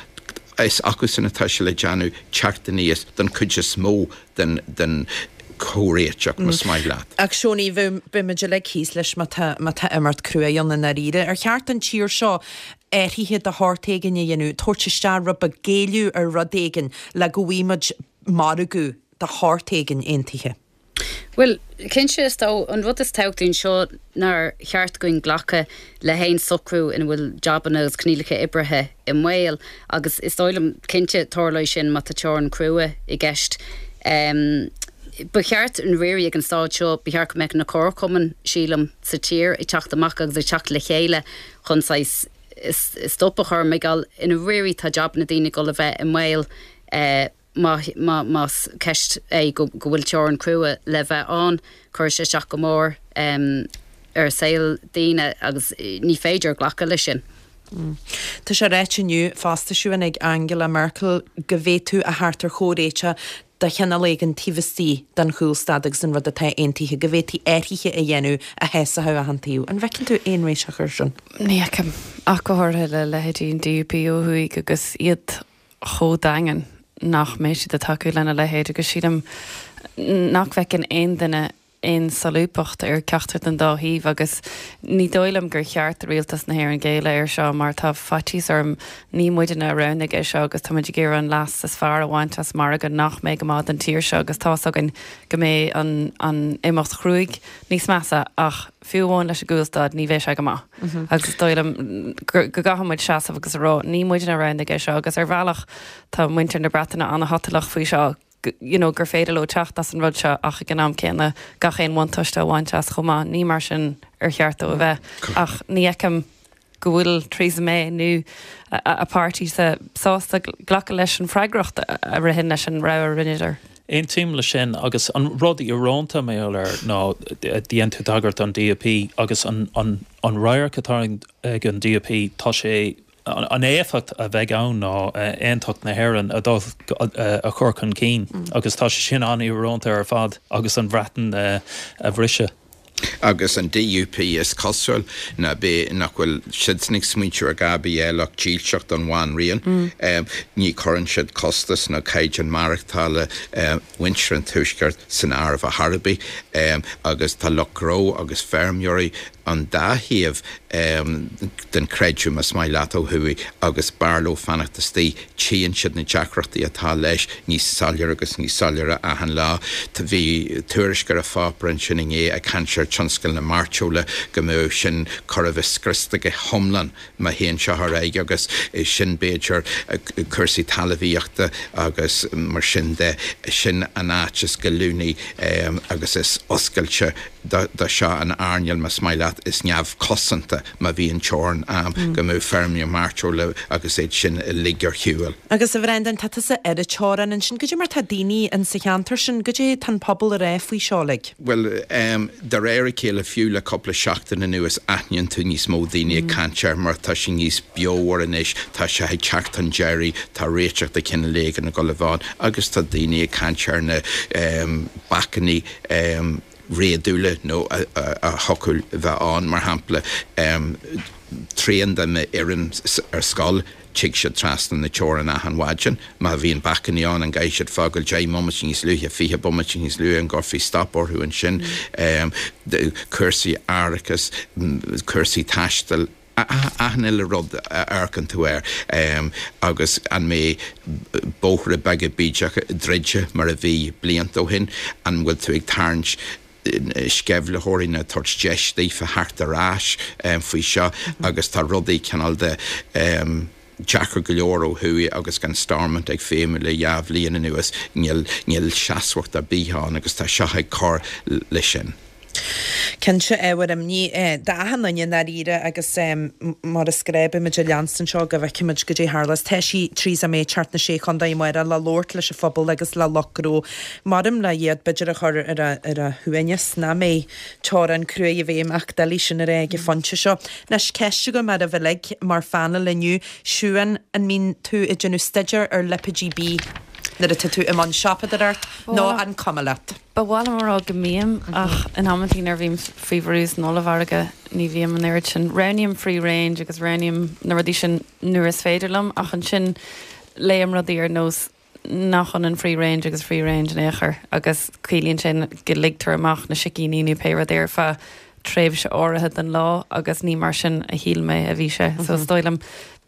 is acusan atá sé le déanamh teacht aníos don chuid is mó den chomhréiteach más maith leat. Ach a Sheonaidh, beimid uilig thíos leis má tá imirt crua ann i ndáiríre. Ar cheart don tír seo athruithe de shórt éigin a dhéanamh, tabhairt isteach rud beag, géilleadh ar rud éigin le go bhfaighimis margadh de shórt éigin aontaithe? Bhuel, cinnte is dóigh an rud is tábhachtaí anseo nár cheart dhúinn glacadh le haon socrú ina bhfuil jabanna agus coinníollacha oibrithe i mbaol agus is dóigh liom cinnte tarlóidh sin má tá teorann crua i gceist. Ba cheart i ndáiríre ag an stáid seo, ba cheart go mbeadh na ceardchumainn sílim sa tír ag teacht amach agus ag teacht le chéile chun saghas stop a chur mar gheall i ndáiríre tá jabanna daoine ag dul a bheith i mbaol. más ceist é go bhfuil teorann crua le bheith ann, cuirfidh sé isteach go mór ar shaol daoine agus ní féidir glacadh leis sin. Tá sé ráite inniu fosta a Shiún ag Angela Merkel go bhféadfaí a theacht ar chomhréiteach de chineál éigin taobh istigh den chúlstad agus an rud atá aontaithe, go bhféadfaí athruithe a dhéanamh a shásódh achan taobh. An bhfeiceann tú aon réiteach air sin? Ní fheicim, ach go háirithe le leithéidí an DUP ó thuaidh agus iad chomh daingean nach mbeidh siad ag tacú lena leithéid agus sílim nach bhfeiceann aon duine aon solúbthacht ar cheachtar den dá thaobh agus ní dóigh liom gur cheart do Rialtas na hÉireann géilleadh air seo mar tá faitíos orm ní muidne a roghnaigh é seo agus táimid ag iarraidh an leas is fearr a bhaint as margadh nach mbeidh go maith don tír seo agus tá a fhios againn go mbeidh an imeacht chruaidh níos measa ach fiú amháin leis an gcúlstad, ní bheidh sé go maith agus is dóigh liom go gcaithfidh muid seasamh agus a rá ní muidne a roghnaigh é seo agus ar bhealach tá muintir na Breataine an-shotalach faoi seo you know gur féidir leo teacht as an rud seo ach ag an am céanna gach aon bhuntáiste a bhaint as chomh maith, ní mar sin ar cheart dó a bheith ach ní fheicim. go bhfuil Theresa May nó a páirtí sá sásta glacadh leis an bhfreagracht a ritheann leis an rogha a rinneadar. Aontaím leis sin agus an rud íorónta mar gheall air ná, dhein tú tagairt don DUP agus an radharc atá ag an DUP, tá sé, an éifeacht a bheidh ann ná aontacht na hÉireann a dul, a chur chun cinn agus tá sé sin an-íorónta ar fad agus an Bhreatain a bhriseadh. agus an DUP is cosúil ná beidh, nach bhfuil siadsan ag smaointiú ar a dhath eile ach dílseacht don Bhanríon. Ní chuireann siad costas nó caighdeán maireachtála mhuintir an Tuaiscirt san áireamh ar chor ar bith agus tá lucht gnó agus feirmeoirí an dá thaobh den chreideamh más maith leat ó thuaidh agus b'fhearr leo fanacht istigh. tchíonn siad na deacrachtaí atá leis níos soiléire agus níos soiléire achan lá. Bhí tuairisc ar an pháipéar ansin inné ag caint ar tionscal na mairteola go mbeadh sin chóir a bheith scriosta go hiomlán má théann seo ar aghaidh agus sin b'fhéidir cúrsaí talmhaíochta agus mar sin de. Sin an áit is goilliúnaí agus is oscailte do seo an earnáil, más maith leat, is neamhchosanta. Má bhíonn teorainn ann go mbeidh feirmeoirí mairteola agus iad sin uilig ar shiúl. Agus a Bhreandáin, tá tusa ar an teorainn ansin, goidé mar tá daoine in sa cheantar sin, goidé tá an pobal a rá faoi seo like? Bhuel ehm, de réir a chéile fiú le cúpla seachtain anuas aithníonn tú níos mó daoine ag caint air mar tá sé níos beomhar anois, tá sé ag teacht chun deiridh, tá réiteach de chineál éigin ag dul a bheith ann agus tá daoine ag caint ar na ehm bacainní ehm, réadúla nó a thiocfadh leo bheith ann, mar shampla, trian de m'fhoireann ar scoil, tig siad trasna na teorann achan mhaidin, má bhíonn bacainní ann an gcaithfidh siad fágáil deich mbomaite níos luaithe, fiche bomaite níos luaithe, an gcuirfí stop orthu ansin? cúrsaí árachais, cúrsaí taistil. achan uile rud a amharcann tú air agus an mbeidh bóithre beaga bídeacha druidte mar a bhí blianta ó shin, an bhfuil tú ag tarraingt sceimhlitheoirí nó ag tabhairt deis daofa theacht ar ais faoi seo agus tá rudaí cineál de. deacair go leor ó thuaidh agus gan Stormont ag feidhmiú le dhá bhliain anuas, níl seasmhacht ar bith ann agus tá seo ag cur leis sin. Cinnte ábhar imní é d'achan duine i ndáiríre agus mar is gnách beimid ag leanstan seo go bhfeicfimid goidé a tharlós. Tá sí, Theresa May, ag teacht na Sé Chontae amárach le labhairt leis an phobal agus le lucht gnó. maram le hiad b'fhéidir a chur ar a shuaimhneas, nach mbeidh? teorainn cruaidh i bhfeidhm ach doiligh sin a rá ag an phointe seo. Anois, ceist agam oraibh uilig mar phaineal inniu, Siún, an mbíonn tú ag déanamh staidéir ar lipéidí bídh nuair atá tú i mbun siopadóireacht nó an cuma leat? Ba mhaith liom a rá go mbím, ach in amantaí nuair a bhím faoi bhrú san ollmhargadh ní bhím an oiread sin. Roghnaím free range agus roghnaím na rudaí sin nuair is féidir liom, ach ansin léim rudaí ar nós nach ionann free range agus free range in aon chor agus ciallaíonn sin go ligtear amach na sicíní nó pé rud é ar feadh tréimhse áirithe den lá agus ní mar sin a shíl mé a bhí sé so is dóigh liom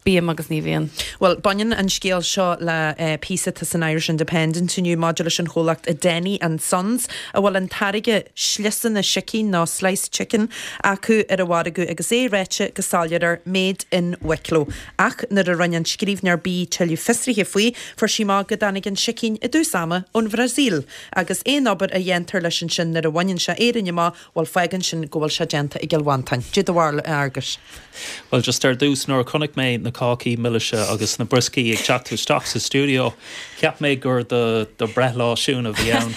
bím agus ní bhíonn. Bhuel, baineann an scéal seo le píosa atá san Irish Independent inniu maidir leis an chomhlacht Denny and Sons a bhfuil an táirge sliosanna sicín nó sliced chicken acu ar an mhargadh agus é ráite go soiléir air Made in Wicklow. Ach nuair a rinne an scríbhneoir bia tuilleadh fiosraithe faoi, fuair sí amach go dtáinig an sicín i dtús ama ón Bhrasaíl. Agus aon obair a dhéantar leis ansin nuair a bhaineann sé Éirinn amach, bhuel, fágann sin go bhfuil sé déanta i gCill Mhantáin. Cad é do bharúil, a Fhearguis! Bhuel, just ar dtús, nuair a chonaic mé na cácaí milise agus na brioscaí ag teacht isteach sa stiúideo, cheap mé gur do do bhreithlá Siún a bhí ann.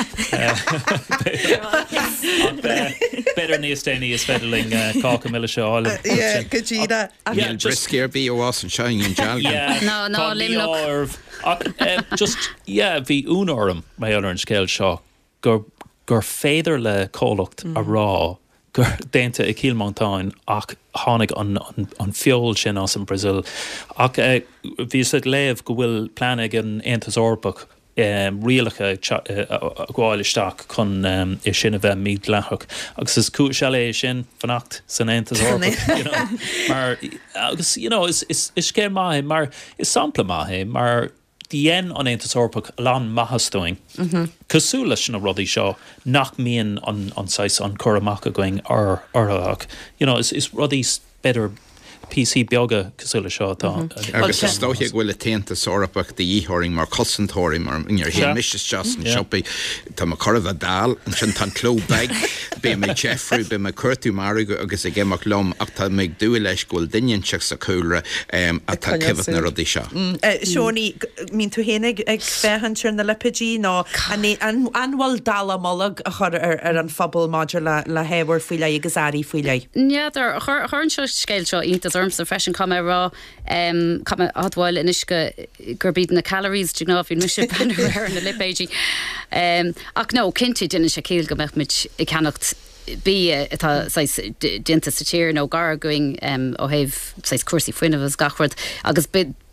B'fhéidir níos déanaí is féidir linn cáca milise a fháil. Go díreach! Níl brioscaí ar bith ag fás anseo i nDún Dealgan. Ná i Luimneach. Ach just, yeah, bhí ionadh orm mar gheall ar an scéal seo gur gur féidir le comhlacht a rá gur déanta i Cill Mhantáin ach tháinig an an feoil sin as an Brazil. Ach bhíos ag léamh go bhfuil plean ag an Aontas Eorpach rialacha a ghabháil isteach chun é sin a bheith mídhleathach agus is cúis eile é sin fanacht san Aontas Eorpach you know mar agus you know is is is scéal maith é mar is sampla maith é mar dhein an Aontas Eorpach a lán maitheas dúinn cosúil leis na rudaí seo nach mbíonn an an saghas an cur amach againn orthu ach you know is is rudaí b'fhéidir píosaí beaga cosúil le seo atá ann. Agus is dóiche go bhfuil an tAontas Eorpach de dhíth orainn mar cosantóirí mar nuair a théann mise isteach san siopaí tá mé chóir a bheith dall ansin tá an cló beag bím ag deifriú bím ag cuartú margadh agus ag imeacht liom ach tá mé ag dúil leis go bhfuil duine inteacht sa chúlra atá ag coimhéad na rudaí seo. Siún, an mbíonn tú féin ag féachaint ar na lipéidí nó an bhfuil dallamullóg á chur ar an phobal maidir le hábhair faoi leith agus earraí faoi leith? N'fheadar. Chuir an scéal seo iontas ormsa freisin. Caithfidh mé a rá, caithfidh mé a admháil anois gurb iad na calories de ghnáth a bhíonn mise ag breathnú orthu ar na lipéidí. Ach no, cinnte déanann sé ciall go mbeadh muid ag ceannacht bia atá saghas déanta sa tír nó gar againn ó thaobh saghas cúrsaí fuinnimh agus gach rud agus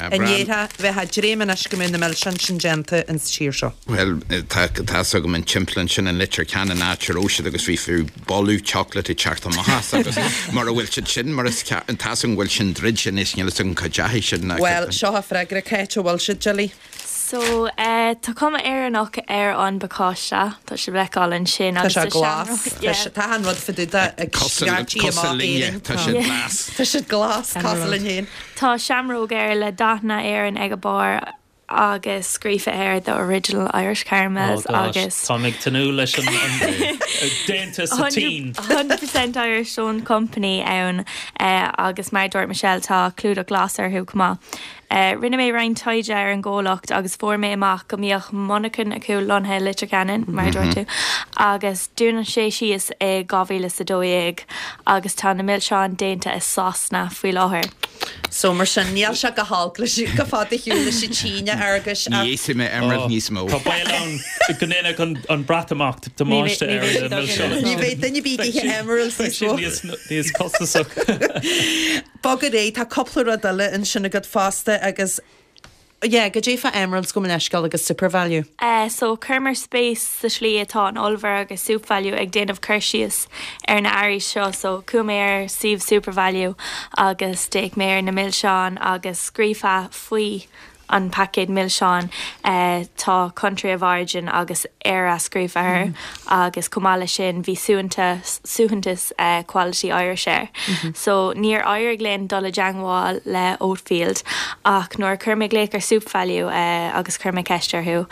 An ndéarfá, bheifeá ag dréim anois go mbeadh na milseáin sin déanta ins an tír seo. Bhuel, tá fhios agam an timpeallán sin i Leitir Ceanainn áit a raibh siad agus bhí fiú boladh chocolate ag teacht amach as agus mura bhfuil siad sin mar tá fhios agam go bhfuil sin druidte anois, níl fhios agam cá deachaigh sin. Bhuel, seo freagra Cáit, an bhfuil siad jelly? So, eh, tá cuma Éireannach ar an bpacáiste, tá sé le feiceáil ansin Tá agus sé tá glas. seamróg, Tá yeah. sé- tá an rud fadú de Tá ag cosa- scairtí cosa amach linne, Éirinn. tá sé glas. Tá sé glas, Tá an cosúil rud. linn féin. Tá seamróg air le dathanna Éireann ag a barr agus scríofa air The Original Irish Oh Caramels gosh, agus táim ag tnúth leis an an- déanta sa tSín. 100% Irish Owned Company ann eh, agus mar a dúirt Michelle tá clúdach glas orthu chomh maith. Rinne mé roinnt taighde ar an gcomhlacht agus fuair mé amach go mbíodh monarcha acu lonnaithe i Leitir Ceanainn, mar a dúirt tú, agus dúnadh í síos i 2012 agus tá na milseáin déanta i Sasana faoi láthair. So, mar sin, níl sé go hiomlán chomh fada ar shiúl leis an tSín, a Fhergus, ach. Ní íosfaidh mé Emerald níos mó. Tá baol ann go ndéanfadh an Breatimeacht damáiste ar na milseáin. Ní bheidh daoine ag ithe Emeralds níos mó. Siad níos costasaí. Bog ar aghaidh, tá cúpla rud eile ansin agat fosta agus yeah, cad é fá Emeralds gabh mo leithscéal agus Supervalu. Eh so cuireamar spéis sa slí atá an ollmhargadh Supervalu ag déanamh cur síos ar na earraí seo so chuaigh mé ar suíomh Supervalu agus d'fhéach mé ar na milseáin agus scríofa faoi an paicéad milseáin tá Country of Origin agus Éire scríofa air agus chomh maith leis sin bhí suaitheantas Quality Irish air. So níor éirigh linn dul i dteangmháil le Oatfield ach nuair a chuir mé glaoch ar Supervalu agus chuir mé ceist orthu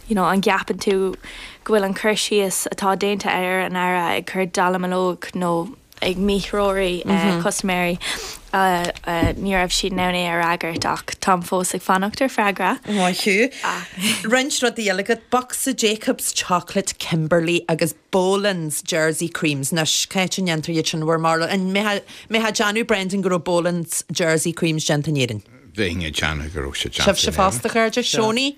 you know an gceapann tú go bhfuil an cur síos atá déanta ar an earra ag cur dallamullóg nó ag míthreorú custaiméirí ní raibh siad in ann é a fhreagairt ach táim fós ag fanacht ar freagra. Maith thú. Roinnt rudaí eile agat, bocsa Jacobs Chocolate Kimberley agus Bolands Jersey Creams. Anois, cá háit a ndéantar iad sin i bhur mbarúil? An mbeifeá ag déanamh, Brendan, go raibh Bolands Jersey Creams déanta in Éirinn? Bheinn ag déanamh go raibh sé déanta in Éirinn. Sibhse fosta, a chairde? Seonaí?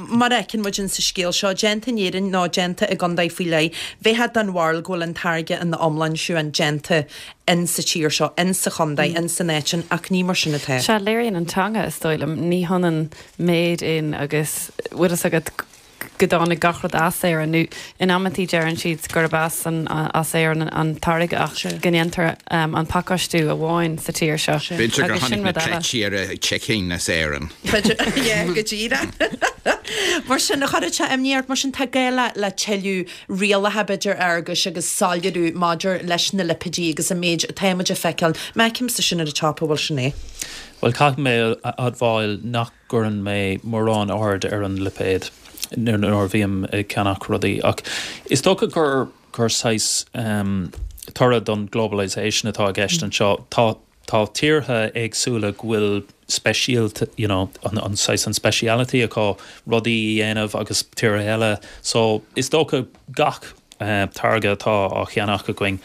Mar a fheiceann muid in sa scéal seo, déanta in Éirinn nó déanta i gcontae faoi leith, bheifeá den bharúil go bhfuil an táirge ina iomláine, a Shiobhán, déanta in sa tír seo, in sa chontae, in san áit sin, ach ní mar sin atá. Sea, léiríonn an teanga, is dóigh liom, ní hionann made in agus bhfuil fhios agat go dtáinig gach rud as Éirinn nó, In amantaí deireann siad gurb as an as Éirinn an táirge ach go ndéantar an pacáistiú amháin sa tír seo agus sin rud eile. B'fhéidir gur tháinig na cleití ar an chicken as Éirinn. B'fhéidir, go díreach. Mar sin, cuireadh imní ort, mar sin tá gá le tuilleadh rialacha, b'fhéidir, Fhearghuis, agus soiléiriú maidir leis na lipéid agus an méid atáimid a feiceáil. mar a fheicimidne ar an tábla ansin é. Bhuel, caithfidh mé a admháil nach. gcuireann mé mórán aird ar an lipéad nuair a bhím ag ceannach rudaí ach is dócha gur saghas toradh don globalisation atá i gceist anseo. Tá tíortha éagsúla go bhfuil speisialta, you know, an saghas an speciality acu rudaí a dhéanamh agus tíortha eile so is dócha gach táirge atá á cheannach againn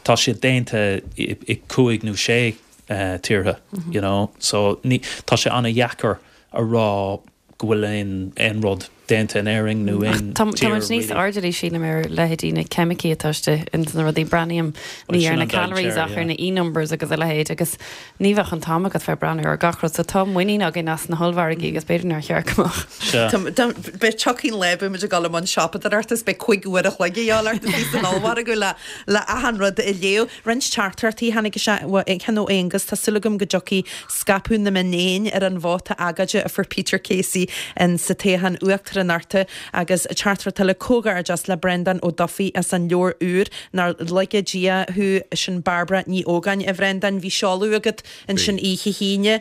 tá siad déanta i cúig nó sé tíortha you know so tá sé ana dheacair a rá go bhfuil aon aon rud déanta in Éirinn nó aon tír really. Tá muid níos airdeallaí sílim ar leithéidí na ceimicí atá istigh ins na rudaí breathnaím ní ar na calories ach ar na E numbers agus a leithéid agus ní bheadh an t-am agat fiú breathnú ar gach rud so tá muinín againn as na hollmhargaí agus b'fhéidir nár cheart go mbeadh. Seo. Beidh tiocfaidh an lae beidh muid ag dul i mbun siopadóireachta is beidh cuig uair a chloig de dhíth ort san ollmhargadh le le achan rud a léamh. Roinnt teachtaireachtaí a tháinig isteach, ceann ó Aonghas, tá súil agam go dtiocfaidh scaipeadh na mionéan ar an vóta agóide a fuair Peter Casey insa toghchán uachtaránachta. Agus teachtaireacht eile, Comhghairdeas le Breandán Ó Dufaigh as an leabhar úr, Nár Lagaí Dia Thú, sin Barbara Ní Ógáin. A Bhreandáin, bhí seoladh agat ansin oíche hAoine.